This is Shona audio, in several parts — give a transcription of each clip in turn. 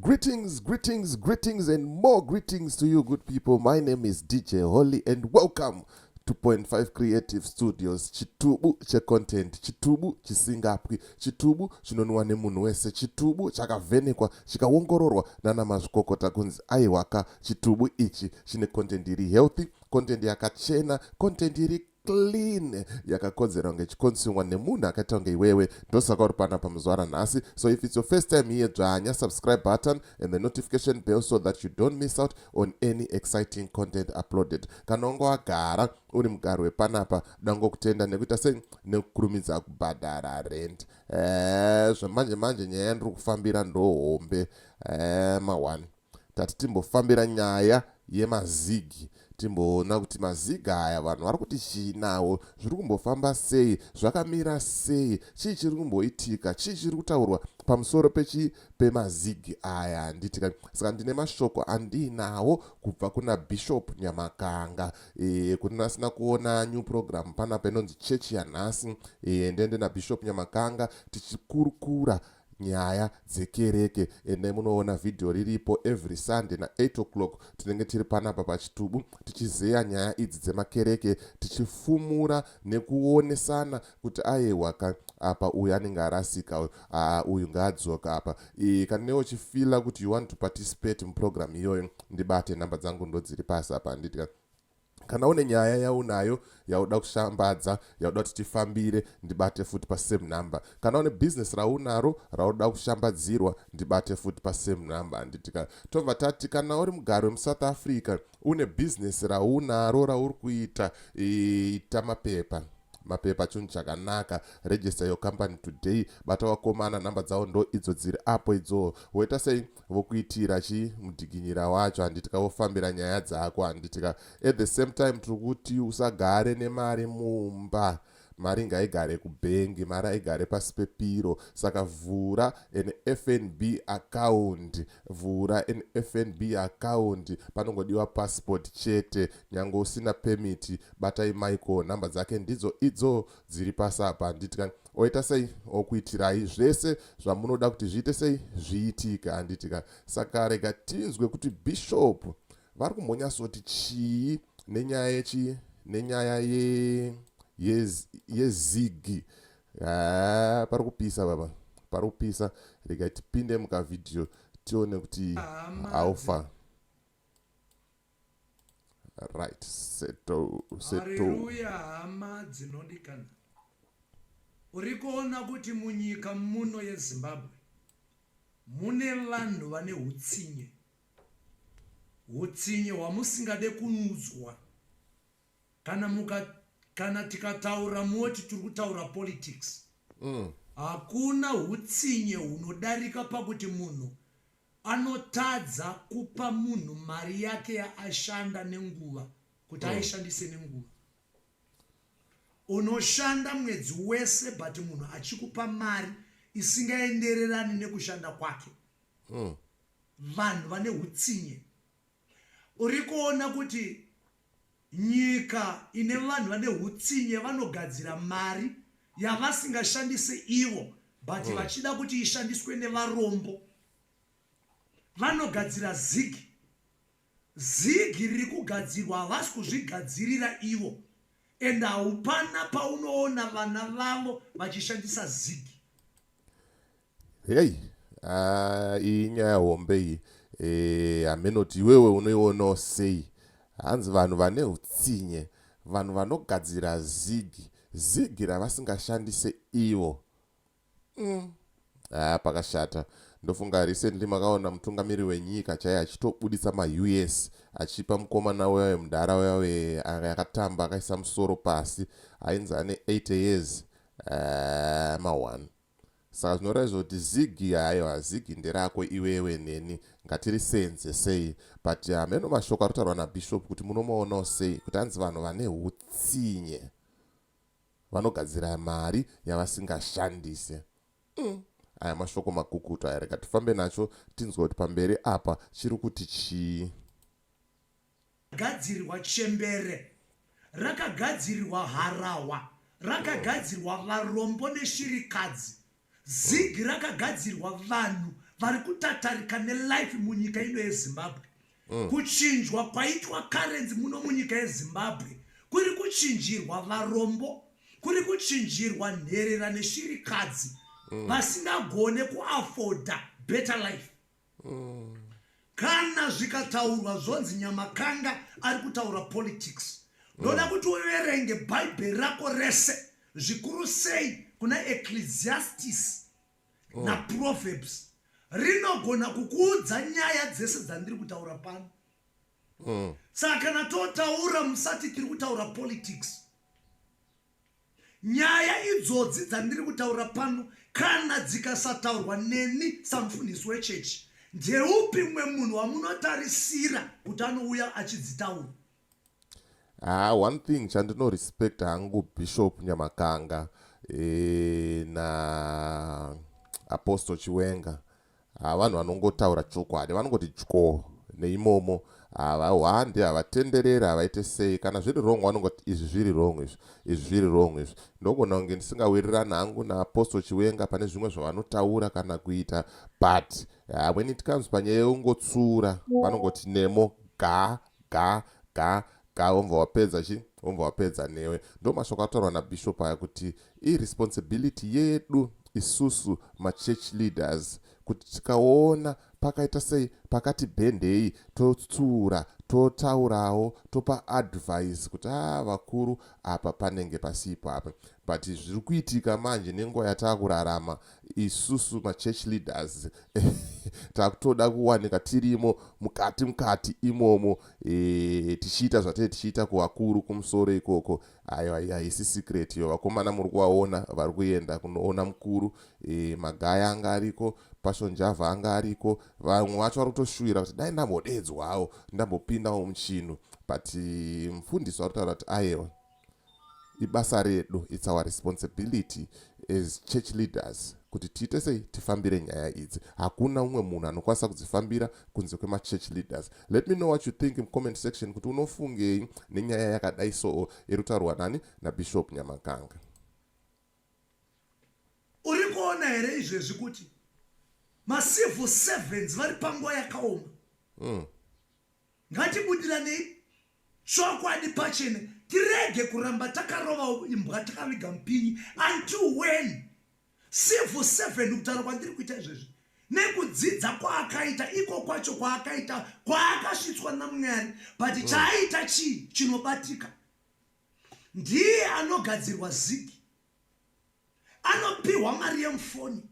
Greetings, greetings, greetings, and more greetings to you, good people. My name is DJ Holly, and welcome to Point Five Creative Studios. Chitubu che content, chitubu chisingapwi, chitubu chinonwa nemunhu wese, chitubu chakavhenekwa chikaongororwa nana mazvikokota kunzi aiwaka chitubu ichi chine content iri healthy, content yakachena, content iri clean yakakodzera kunge ichikonsumwa nemunhu akaita kunge iwewe ndosaka uri panapa muzwara nhasi so if it's your first time here dzvanya subscribe button and the notification bell so that you don't miss out on any exciting content uploaded kana unge wagara uri mugari wepanapa dangokutenda nekuita sei nekukurumidza kubhadhara rent eh, zvamanje manje nyaya ndiri kufambira ndohombe eh, mawani tati timbofambira nyaya yemazigi timboona kuti mazigi aya vanhu vari kuti chii nawo zviri kumbofamba sei zvakamira sei chii chiri kumboitika chii chiri kutaurwa pamusoro pechi pemazigi aya handitika saka ndine mashoko andiinawo kubva kuna bishop nyamakanga e, kune vasina kuona new program panapa inonzi chechi yanhasi e, ndende nabishop nyamakanga tichikurukura Nyaya dzekereke endai munoona video riripo every Sunday na 8 o'clock tinenge tiri panapa pachitubu tichizeya nyaya idzi dzemakereke tichifumura nekuonesana kuti ayewa ka apa uyu anenge arasika uyu haa uyu ngaadzoka apa e, kana newe uchifila kuti you want to participate muprogram iyoyo ndibate nhamba dzangu ndodziri pasi apa handiti ka kana une nyaya yaunayo yauda kushambadza yauda kuti tifambire ndibate futi pasame number kana une bhizinesi raunaro rauda kushambadzirwa ndibate futi pasame number handitika tobva tati kana uri mugari wemusouth africa une bhizinesi raunaro rauri kuita ita mapepa mapepa chunhu chakanaka register your company today bata wakomana nhamba dzavo ndo idzo dziri apo idzoo woita sei vokuitira chii mudikinyira wacho handitika vofambira nyaya dzako handitika at the same time tiri kuti usagare nemari mumba mari ngaigare kubhengi mari aigare pasi pepiro saka vhura an fnb account vhura an fnb account panongodiwa passport chete nyange usina pemiti batai michael nhamba dzake ndidzo idzo dziri pasi apa handiti ka oita sei okuitirai zvese zvamunoda kuti zviite sei zviitike handiti ka saka rega tinzwe kuti bishop vari kumbonyasoti chii nenyaya yechii nenyaya ye yezigi haa pari kupisa baba pari kupisa rega tipinde mukavhidhiyo tione kuti haufa ah, right seto setohaleluya hama dzinondikana uri kuona kuti munyika muno yezimbabwe mune vanhu vane utsinye utsinye hwamusingade kunzwa kana muka kana tikataura moti tiri kutaura politics mm. hakuna utsinye hunodarika pakuti munhu Anotadza kupa munhu mari yake yaashanda nenguva kuti hmm. aishandise nenguva. Unoshanda mwedzi wese but munhu achikupa mari isingaendererani nekushanda kwake. Hmm. Vanhu vane hutsinye. Uri kuona kuti Nyika ine vanhu vane hutsinye vanogadzira mari yavasingashandise ivo but mm. vachida kuti ishandiswe nevarombo vanogadzira zigi zigi riri kugadzirwa havasi kuzvigadzirira ivo and haupana paunoona vana vavo vachishandisa zigi Hey, ah, iyi nyaya hombe iyi eh, hamenoti iwewe unoionawo sei hanzi vanhu vane utsinye vanhu vanogadzira zigi zigi ravasingashandise ivo mm. ah, pakashata ndofunga recently makaona mutungamiri wenyika chaiye achitobuditsa maus achipa mukomana wewaye mudhara wewaye anga akatamba akaisa musoro pasi ainzi ane 8 years uh, ma1 Saka zvinoratidza kuti zigi haiwa zigi nderako iwewe neni ngatirisenze sei but hameno ah, mashoko aritaurwa nabishop kuti munomoonawo sei kuti hanzi vanhu vane utsinye vanogadzira mari yavasingashandise mm. aya mashoko makukutu aya rega tifambe nacho tinzwa kuti pamberi apa chiri kuti chii Rakagadzirwa chembere, rakagadzirwa harahwa, rakagadzirwa varombo neshirikadzi. Zig rakagadzirwa vanhu vari kutatarika nelife munyika ino yezimbabwe mm. kuchinjwa kwaitwa karenzi muno munyika yezimbabwe kuri kuchinjirwa varombo kuri kuchinjirwa nherera neshirikadzi mm. vasingagone kuafoda better life kana zvikataurwa zvonzi nyamakanda ari kutaura politics ndoda mm. kuti uverenge bhaibheri rako rese zvikuru sei kuna ecclesiastis mm. naproverbs rinogona kukuudza nyaya dzese dzandiri kutaura pano mm. saka kana totaura musati tiri kutaura politics Nyaya idzodzi dzandiri kutaura pano kana dzikasataurwa neni samufundisi wechechi, ndeupi mumwe munhu wamunotarisira kuti anouya achidzitaura? Ah, one thing chandinorespect hangu Bishop Nyamakanga e, na Apostle Chiwenga Haa vanhu vanongotaura chokwadi vanongoti tyoo neimomo haa vahwande havatenderere havaite sei kana zviri wrong vanongoti izvi zviri wrong izvi izvi zviri wrong izvi ndogona kunge ndisingawirirani hangu naapostle chiwenga pane zvimwe zvavanotaura kana kuita but haa when it comes panyaya yeungotsura vanongoti nemo ga Ga ga ga wobva wapedza chi wobva wapedza newe. Ndomashoko ataurwa naBishop aya kuti iresponsibility yedu isusu machurch leaders kuti tikaona pakaita sei pakati bhendei totsura totaurawo topa advice kuti a ah, vakuru apa panenge pasipo apa but zviri kuitika manje nenguva yatava kurarama isusu machurch leaders takutoda kuwanika tirimo mukati mukati imomo e, tichiita zvatee tichiita kuvakuru kumusoro ikoko ayo haisi secret iyo vakomana muri kuvaona vari kuenda kunoona mukuru e, magaya anga ariko pashonjava anga ariko vamwe vacho vari kutoshuvira kuti dai ndambodedzwawo ndambopindawo muchinu but mfundisi vari kutaura kuti ayewa ibasa redu its our responsibility as church leaders kuti tiite sei tifambire nyaya idzi hakuna umwe munhu anokwanisa kudzifambira kunze kwemachurch leaders let me know what you think mucomment section kuti unofungei nenyaya yakadai soo iri kutaurwa nani nabishop nyamakanga uri kuona here izvezvi kuti macivil servants vari panguva yakaoma mm. Ngatibudiraneyi chokwadi pachene tirege kuramba takarova imbwa takaviga mupinyi until when civil servant kutaura kwandiri kuita izvezvi nekudzidza kwaakaita iko kwacho kwaakaita kwaakasvitswa namwari but mm. chaaita chii chinobatika ndiye anogadzirwa zigi anopiwa mari yemufoni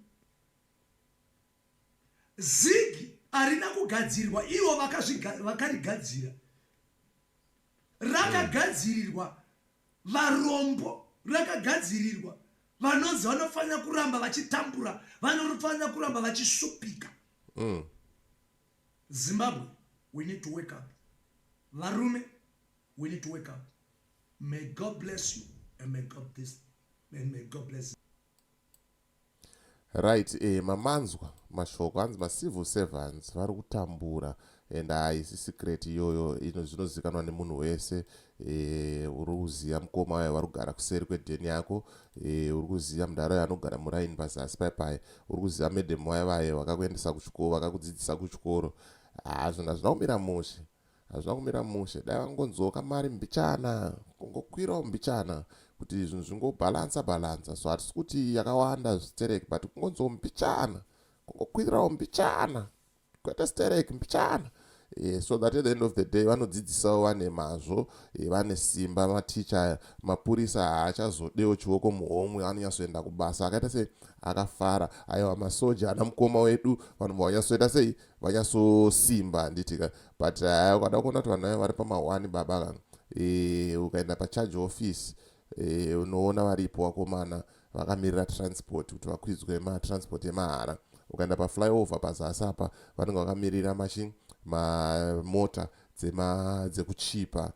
Zigi arina kugadzirwa ivo vakarigadzira rakagadzirirwa varombo rakagadzirirwa vanonzi vanofanira kuramba vachitambura vanofanira kuramba vachishupika mm. zimbabwe we need to wake up varume we need to wake up may god bless you and may god, this, and may god bless you. Right eh mamanzwa mashoko hanzi ma civil servants vari kutambura and haisi secret iyoyo ino zvinozikanwa nemunhu wese eh uri kuziva mukoma wayo vari kugara kuseri kwedheni yako eh uri kuziva mudhara wayo anogara muraini pazasi pai pai uri kuziva madam wayo vaye vakakuendesa kuchikoro vakakudzidzisa kuchikoro hazvona ah, zvina kumira mushe Hazvina kumira mushe dai vangonzwawo kamari mbichana kungokwirawo mbichana kuti zvinhu zvingobalansa balansa so hatisi kuti yakawanda sterek but kungonzwawo mbichana kungokwirawo mbichana kwete sterek mbichana Eh, so that at the end of the day vanodzidzisawo vane mazvo eh, vane simba maticha aya mapurisa haachazodewo chioko muhomwe anonyatsoenda kubasa akaita sei akafara aiwa masoja ana mukoma wedu vanobva vanyatsoita sei vanyasosimba handiti ka but haya ukada kuona kuti vanhu vayo vari pamahwani baba ka e, ukaenda pacharge office e, unoona varipo vakomana vakamirira transport kuti vakwidzwe matransport emahara ukaenda paflyover pazasi apa vanenge vakamirira machine mamota dzekuchipa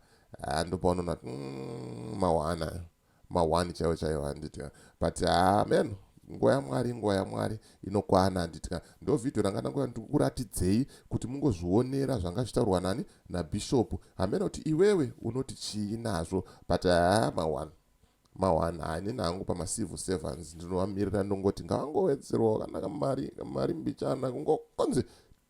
ndopaunona mm, mawana ma one chaiwo chaiwo handiti ka but haa man nguva yamwari nguva yamwari inokwana handiti ka ndo vhidhiyo ranga ndangoa ndikuratidzei kuti mungozvionera zvanga zvitaurwa nani nabhishopu hameno kuti iwewe unoti chii nazvo but haa ma one ma one haa inini hangu pamacivil servants ndinovamirira ndongoti ngavangowedzerwawo kana kamari kamari mbichana kungokonzi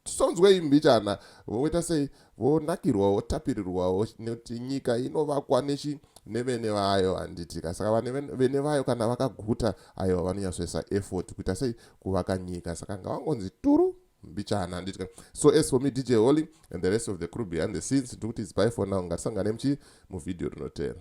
Tisonzwei mbichana voita sei vonakirwa votapirirwawo nekuti nyika inovakwa nechi nevene vayo handiti ka saka vene vayo kana vakaguta aiwa vanonyatsoisa effort kuita sei kuvaka nyika saka ngavangonzi turu mbichana handiti ka so as for me dj holy and the rest of the crew behind the scenes ndiri kuti its by for now ngatisangane muchi muvhidhiyo rinoteera